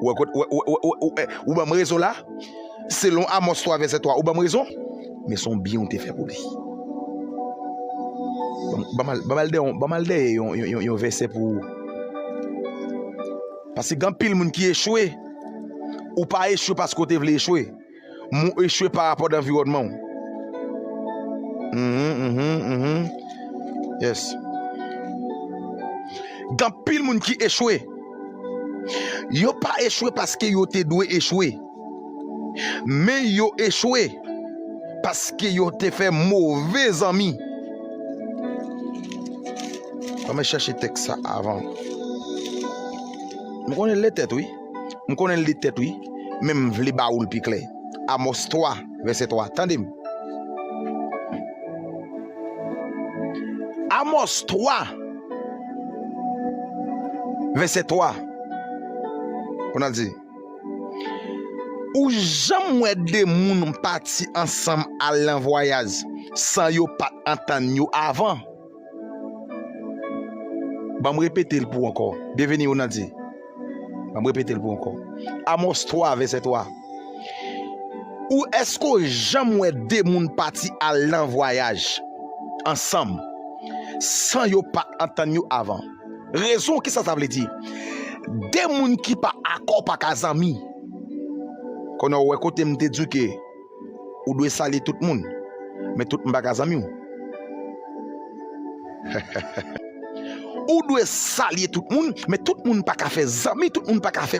Ou wè kot, ou, ou, ou, ou, ou banm rezon la? Selon Amos 3 vèsè 3, ou banm rezon? Men son byen ou te fè pou li. Banm al, banm al dèyè yon, banm al dèyè yon, yon, yon, yon vèsè pou ou. Paske gen anpil moun ki echwe. Ou pa echwe paske ou te vle echwe. Mwen ou echwe pa rapò danviwònman ou. Mhmm mhmm mhmm yes. Gan pil moun ki echwe. Yo pa echwe paske yo te dwe echwe. Men yo echwe paske yo te fè move zanmi. Mwen chache tèks sa avan. Mwen konnen lè tèt wi. M konnen l li tèt wi, men m vle ba ou l pi klè. Amòs 3, vèsè 3, tande m. Amòs 3, vèsè 3, pou n al di. Ou janm wè de moun pati ansanm al nan vwayaj san yo pa t antann yo avan? Banm repetel pou ankò. Byenveni ou nan di. Banm repetel pou ankò. Amos 3 vèsè 3. Ou èske ou janm wè de moun pati al nan vwayaj ansanm san yo pa antann yo avan? Rezon ki sa sa vle di? De moun ki pa akò pa ka zanmi. Konnen ou wè kotem te di w ke. Ou dwe salye tout moun, men tout moun pa ka zanmi w. Ou dwe salye tout moun, men tout moun pa ka fè zanmi, tout moun pa ka fè.